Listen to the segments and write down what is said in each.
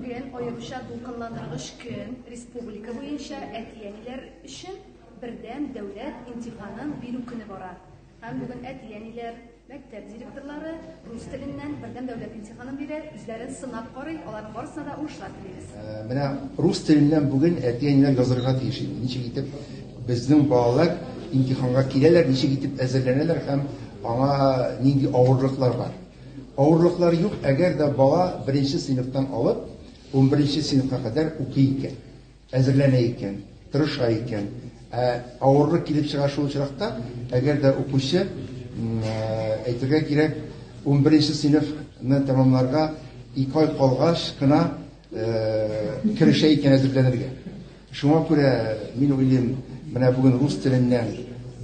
Бүген аеруча дулкынландыргыч көн республика буенча әти-әниләр өчен бердәм дәүләт имтиханын бирү көне бара. Һәм бүген әти-әниләр, мәктәп директорлары рус теленнән бердәм дәүләт имтиханын бирә, үзләрен сынап карый, аларның барысына да уңышлар телибез. Э, менә рус теленнән бүген әти-әниләр язырга тиеш инде. Ничек итеп безнең балалар имтиханга киләләр, ничек итеп әзерләнәләр һәм аңа нинди авырлыклар бар. Авырлыклар юк, әгәр дә бала беренче сыйныфтан алып унберенче сыйныфка кадәр укый икән, әзерләнә икән, тырыша икән. Ә авырлык килеп чыга шул очракта, әгәр дә укучы, әйтергә кирәк, унберенче сыйныфны тәмамларга ике ай калгач кына керешә икән әзерләнергә. Шуңа күрә мин уйлыйм, менә бүген рус теленнән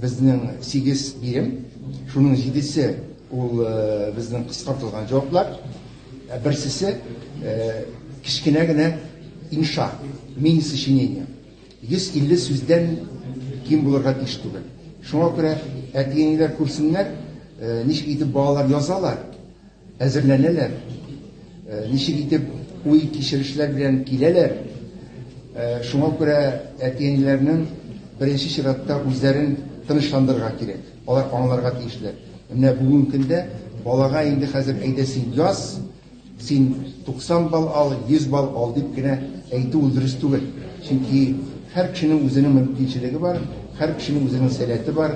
безнең сигез бирем, шуның җидесе ул безнең кыскартылган җаваплар, ә берсесе кечкенә генә инша, мини-сочинение. 150 сүздән ким булырга тиеш түгел. Шуңа күрә әти-әниләр күрсеннәр, ничек итеп балалар язалар, әзерләнәләр, ничек итеп уй-кичерешләр белән киләләр, шуңа күрә әти-әниләрнең беренче чиратта үзләрен тынычландырырга кирәк, алар аңларга тиешләр, менә бүгенге көндә балага инде хәзер әйдә син яз, син 90 балл ал, 100 балл ал дип кенә әйтү ул дөрес түгел, чөнки һәр кешенең үзенең мөмкинчелеге бар, һәр кешенең үзенең сәләте бар.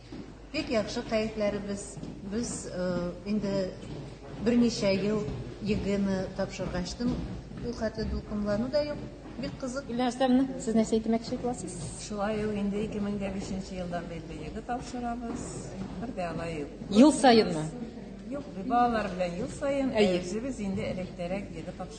Бик яхшы кәефләребез. Без инде берничә ел ЕГЭны тапшырганчтын ул хәтле дулкынлану да юк. Бик кызык. Гөлия Рөстәмовна, сез нәрсә әйтмәкче буласыз? Шулай ул инде 2005 елдан бирле ЕГЭ тапшырабыз. Бер дә алай юк. Ел саенмы? Юк, балалар белән ел саен, ә үзебез инде электәрәк ЕГЭ тапшырдык.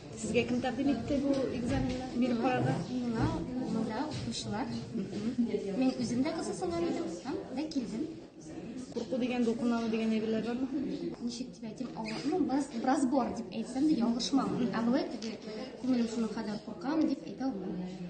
Сезгә кем тәкъдим итте бу экзаменны биреп карарга? Миңа монда укучылар. Мин үзем дә кызыксынган идем һәм дә килдем. Курку дигән дулкынлану дигән әйберләр бармы? Ничек дип әйтим, авыр, ну, бераз, бераз бар дип әйтсәм дә ялгышмам. Ә былай теге күңелем шуның кадәр куркам дип әйтә алмыйм.